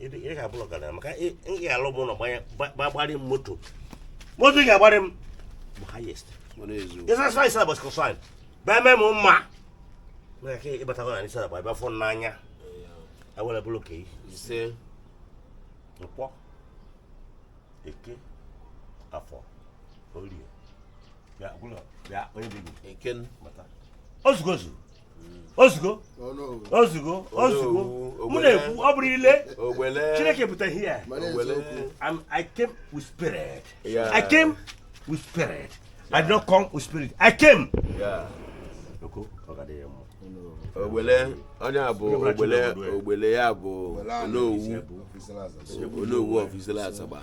ị ga-abụ ọgaranya maka ị ị ga-alụ m ụlọ gbanye gba- gba- gbarị m moto moto ị ga-agbarị m bụ highest Mana ezu. ịsa sa ịsa bọs kọsọ anyị bịa mee m mma maka ka ịbatago na Azagba bịa fụ n'anya awere bụrụ ka Ise. nkwọ eke afọ orie bịa bụrụ bịa onye dị gị Eken. bata ozugo ozu ozugo ozugo ozugo mụ na-ekwu ọ bụrụ ile chineke pụta here i came with spirit i came with spirit i did not come with spirit i came ogbele onye a bụ ogbele ya bụ onowu onowu of Issele Azagba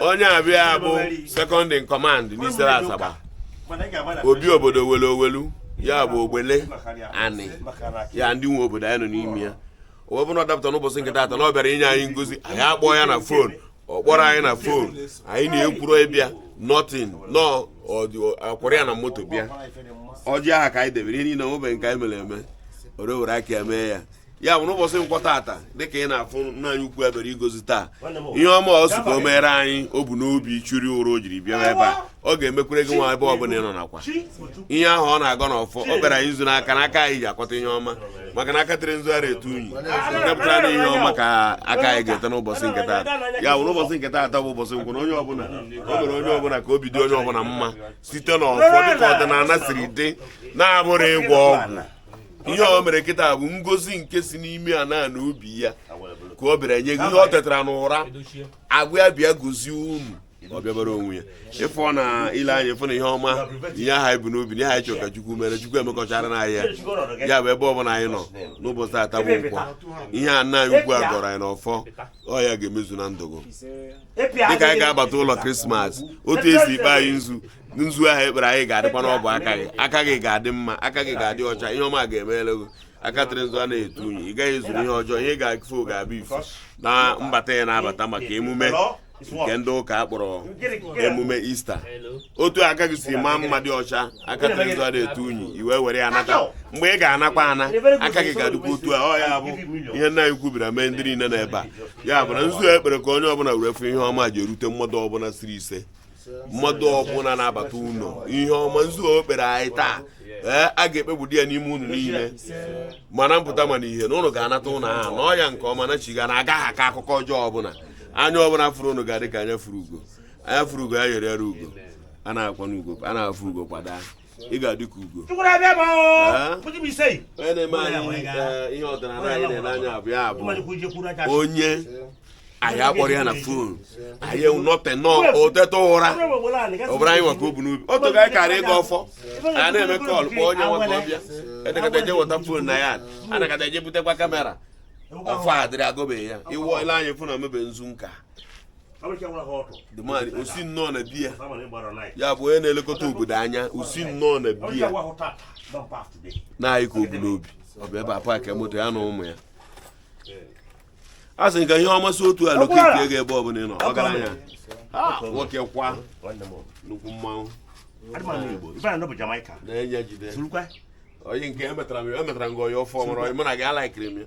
onye a bịa bụ second in command n'Issele Azagba obi obodo welu owelu ya bụ ogbelanị ya ndị nwe obodo anyị nọ n'ime ya o wee bụ na ọ dapụta n'ụbọchị nke taata na ọ bịara inye anyị ngozi anyị akpọọ ya na fon ọ kpọrọ anyị na fon anyị na-ekwuru ịbịa nothing na ọ kwụrụ ya na moto bịa ọjị aha ka anyị debere ihe niile o nwebeghị nke anyị mere eme ore were aka ya mee ya ya bụ n'ụbọchị nkwọ taata dịka ị na-afụ nna anyị ukwu bịara ịgọzi taa ihe ọma ọ sị ka o meere anyị o bu n'obi churi ụra o jiri bịa ebe a ọ ga-emekwere gị nwa ebe ọbụla ị nọ nakwa ihe ahụ ọ na-agọ n'ọfọ ọ bịara anyị nzu n'aka n'aka anyị ji akọta ihe ọma maka na aka tere nzu agaghị etu unyi nke pụtara na ihe ọma ka aka anyị ga-ete n'ụbọchị nke taata ya bụ n'ụbọchị nke taata bụ ụbọchị nkwọ na onye ọbụla o mere onye ọbụla ka obi dị onye ọbụla mma site n'ọfọ dịka ọdịnala siri dị na abụrọ ịgwọ ọgwụ ihe o mere kịta bụ ngozi nke si n'ime ana obi ya ka ọ bịara nye gị ihe ọ tetara n'ụra agwa ya bịa gozie unu ọ bịabara onwe ya ịfụ na ile anya ịfụ na ihe ọma ihe ahụ i bu n'obi na ihe anyị chọrọ ka Chukwu mere Chukwu emekọchara anyị ya ya bụ ebe ọbụla anyị nọ n'ụbọchị taa bụ nkwọ ihe a nna anyị ukwu a gọrọ anyị n'ọfọ ọ ya ga-emezu na ndụ gị dịka anyị ga-abata ụlọ krismas otu e si kpe anyị nzu nzu ahụ e kpere anyị ga-adịkwa n'ọbụ aka gị aka gị ga-adị mma aka gị ga-adị ọcha ihe ọma ga-emere gị aka tere nzu a na-etu unyi ị gaghị ezuru ihe ọjọọ ihe ị ga-afụ ga-abụ ifu na mbata ị na-abata maka emume nke ndị ụka a kpọrọ emume ista otu aka gị si maa mma dị ọcha aka tere nzu a na-etu unyi i wee were ya nata mgbe ị ga-anakwa ana aka gị ga-adịkwa otu a ọ ya bụ ihe nna anyị ukwu bịara mee ndị niile nọ ebe a ya bụ na nzu e kpere ka onye ọbụla were fụ ihe ọma ji erute mmadụ ọbụla sịrị ise mmadụ ọbụla na-abata ụlọ ihe ọma nzu o kpere anyị taa ee a ga-ekpegbudi ya n'ime unu niile ma na mpụta ma na ihe na unu ga-anata ụlọ ahụ na ọya nke ọma na chiga na agaghị akọ akụkọ ọjọọ ọbụla anya ọbụla fụrụ unu ga-adị ka anya fụrụ ugo anya fụrụ ugo ya yere yere ugo a na-akwa n'ugo a na-afụ ugo kwa daa ị ga-adị ka ugo onye anyị akpọrọ ya na fon anyị nọte nọọ o teta ụra ọ bụrụ anyị nwa ka o bu n'obi otu ga anyị karị ịgọ ọfọ a na-eme call kpọọ onye nwa ka ọ bịa edekata eje weta fon na ya anọkata eje butekwa kamera ọfọ adịrị agọbeghị ya iwu ile anyị fụ na omebe nzu nka the man ọ sị na ọ na-abịa ya bụ onye na-elekọta obodo anya ọ sị na ọ na-abịa na anyị ka o bu n'obi ọ bụ ebe a paakị moto ya na ụmụ ya a sị ka ihe ọma si otu a locate gị ebe ọbụla ị nọ ọgaranya nwoke kwa nnukwu mmanwụ nna anyị jide onye nke emetara m ya emetara m gị onye ọfọ mụrụ onye mụ na gị alaikiri m ya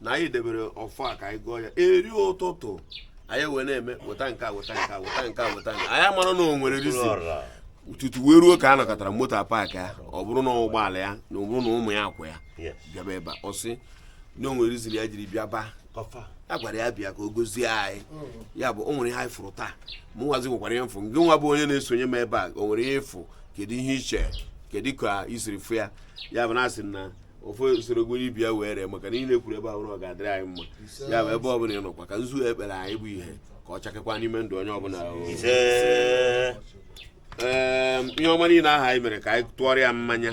na anyị debere ọfọ a ka anyị gọọ ya eri ụtụtụ anyị wee na-eme weta nke a weta nke a weta nke a weta nke a. anyị amara na o nwere reason tutu wee ruo ka a nyakọtara moto a paakị ya ọ bụrụ na ụgbọala ya na ọ bụrụ na ụmụ ya akwọ ya Yes. bịaba ebe a ọ sị na o nwere reason ya jiri bịaba a gwara ya bịa ka o gozie anyị ya bụ o nwere ihe anyị fụrụ taa mụ nwazi nwekwara ihe m fụ gị nwa bụ onye na-esonye m ebe a o nwere ihe ị fụ kedu ihe i che kedu ka i siri fụ ya ya bụ na a sị na ofe usoro gwere ibi ya wee ree maka na ihe niile e kwuru ebe ahụ na ọ ga-adịrị anyị mma ya bụ ebe ọbụla ị nọkwa ka nzu ekpere anyị bụ ihe ka ọ chakekwa n'ime ndụ onye ọbụla o. ise Ee, ihe ọma niile ahụ anyị mere ka anyị tụọrọ ya mmanya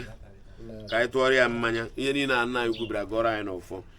ka anyị tụọrọ ya mmanya ihe niile a nna anyị kwubiri agọrọ anyị n'ọfọ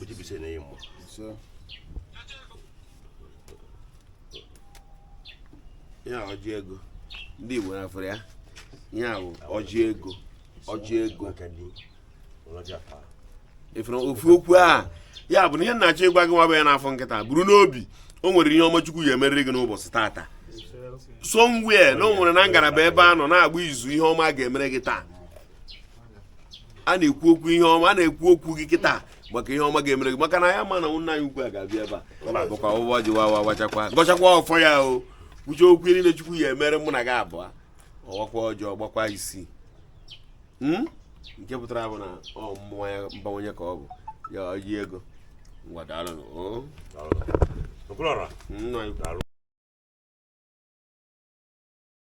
ọjị gba isii na ọ ọmụmụ ya ọjị ego ndị igbo na afere ya ihe a bụ ọjị ego ọjị ego ị fụrụ ofu okwu a ya bụ na ihe m na-achọ ịgwa gị nwa bụ onye na-afụ m kịta buru n'obi o nwere ihe ọma chukwu ga-emeriri gị n'ụbọchị taata somewhere na o nwere na ngalaba ebe a nọ na-agba izu ihe ọma ga-emere gị taa a na-ekwu okwu ihe ọma a na-ekwu okwu gị kịta maka ihe ọma ga-emere gị maka na onye ma na nna anyị ukwu a ga-abịa ebe a bukwa ọjị wawa wachakwa gọchakwa ọfọ ya o kwuche okwu niile chukwu ya-emere mụ na gị abụọ ọ wakwa ọjị ọ gbakwa isii hmm? nke pụtara bụ na ọmụmụ na mbawanye ka ọ bụ ya ọjị ego ngwa daalụ nna anyị